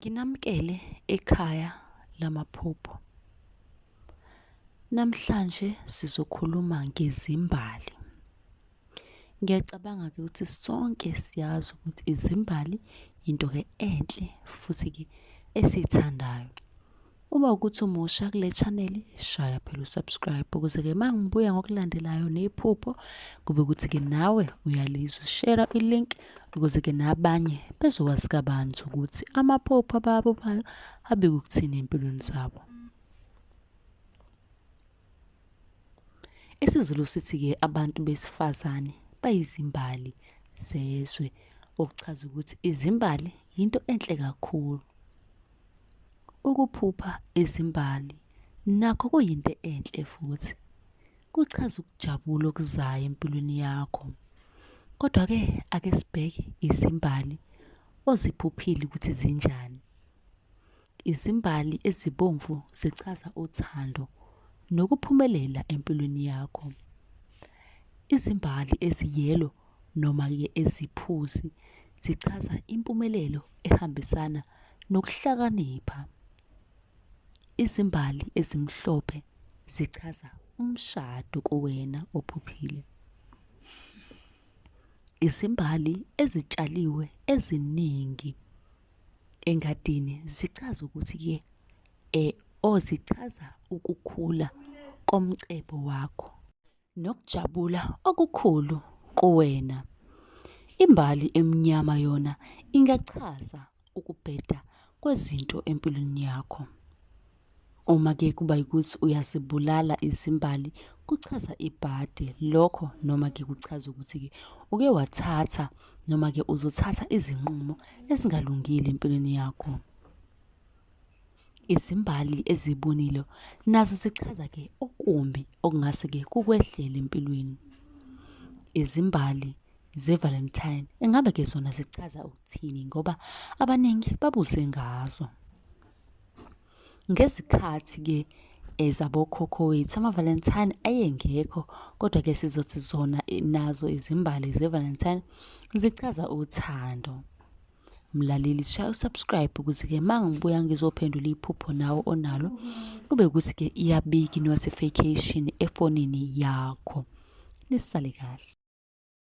Nginamkele ekhaya lamaphupho. Namhlanje sizokhuluma ngezimbali. Ngiyacabanga ke ukuthi sonke siyazi ukuthi izimbali into ke enhle futhi ke esithandayo. Uma ukuthi umusha kule channel shaya phela usubscribe ukuze ke mangibuya ngokulandelayo nephupho kube ukuthi ke nawe uyalizwa share ilink ukuze ke nabanye bezokwazi kabanzi ukuthi amaphupho ababo bayo abike ukuthini empilweni zabo. IsiZulu sithi ke abantu besifazane bayizimbali zezwe okuchaza ukuthi izimbali yinto enhle kakhulu. Ukuphupha izimbali nakho kuyinto enhle futhi kuchaza ukujabula okuzayo empilweni yakho. Kodwa-ke ake sibheke izimbali oziphuphile ukuthi zinjani. Izimbali ezibomvu zichaza uthando nokuphumelela empilweni yakho. Izimbali eziyelo noma-ke eziphuzi zichaza impumelelo ehambisana nokuhlakanipha. Izimbali ezimhlophe zichaza umshado kuwena ophuphile. Izimbali ezitshaliwe eziningi engadini zichaza ukuthi-ke um or zichaza ukukhula komcebo wakho. nokujabula okukhulu kuwena. Imbali emnyama yona ingachaza ukubheda kwezinto empilweni yakho. Uma ke kuba ukuthi uyazibulala izimbali kuchaza ibhadi lokho noma ke kuchaza ukuthi ke uke wathatha noma ke uzothatha izinqumo ezingalungile empilweni yakho. Izimbali ezibonile nazo zichaza ke okumbi okungase ke kukwehlele empilweni. Izimbali zeValentine engabe ke zona zichaza ukuthini ngoba abaningi babuze ngazo. Ngezikhathi ke ezabokhokho wethu amaValentine ayengekho kodwa ke sizothi zona nazo izimbali zeValentine zichaza uthando. Mlaleli shaya usubscribe ukuze-ke uma ngibuya ngizophendula iphupho nawe onalo kube ukuthi-ke iyabika i-notification efonini yakho. Nisale kahle.